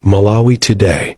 Malawi Today.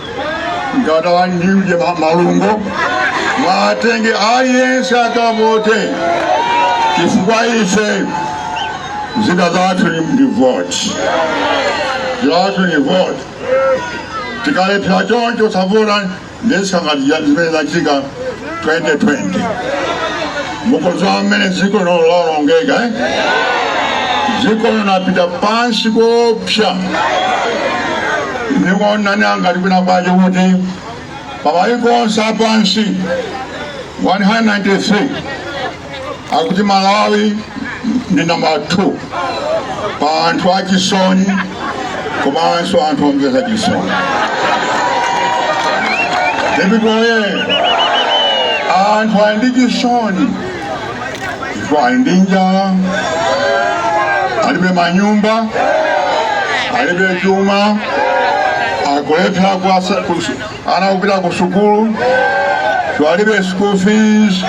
ngati andi uje ma- malungo mwatenge aliyense akavote chifukwa ife zida zathu ni- ndi voti zathu ni voti tikalephera choncho osavota nde zangati zimene zachitika 2020 mukudziwa mmene dziko lino lawonongeka eh? dziko linapita pansi koopsa ndikuonani angati kwinakwake kuti pamayiko onse apansi 193 akuti malawi ndi namba 2 pa anthu achisoni komanso anthu omvesa chisoni nde because anthu ali ndi chisoni ife ali ndi njala alibe manyumba alibe chuma akulephera kuwasa- kus- ana kupita ku sukulu kuti alibe school fees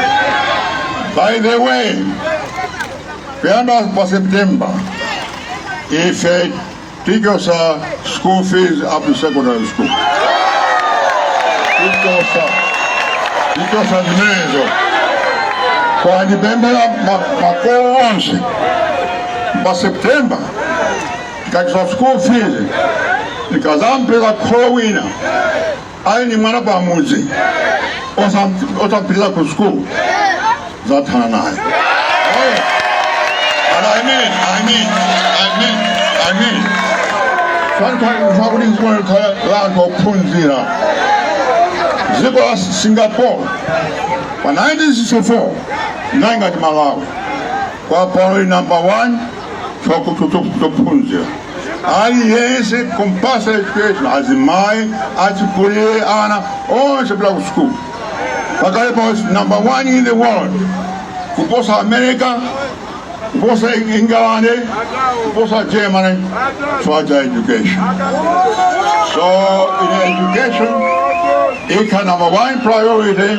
by the way kuyamba pa september ife tichosa school fees up to secondary school tichosa tichosa zimenezo koma ndipemphera makolo onse pa september tikathesa school fees tikazampeza kholo wina ali ndi mwana pamudzi osam- osampitisa ku school zathana naye And I mean. Sometimes ntakuti nzimene khala la anthu ophunzira dziko la singapore pa 1964 linali ngati malawi koma pano ili number 1 chophunzira aliyense kumpasa education azimayi achikulire ana onse kupita ku sukulu pakali pano number one in the world kuposa america kuposa england kuposa germany chifukwa cha education so ine education ikhala number one priority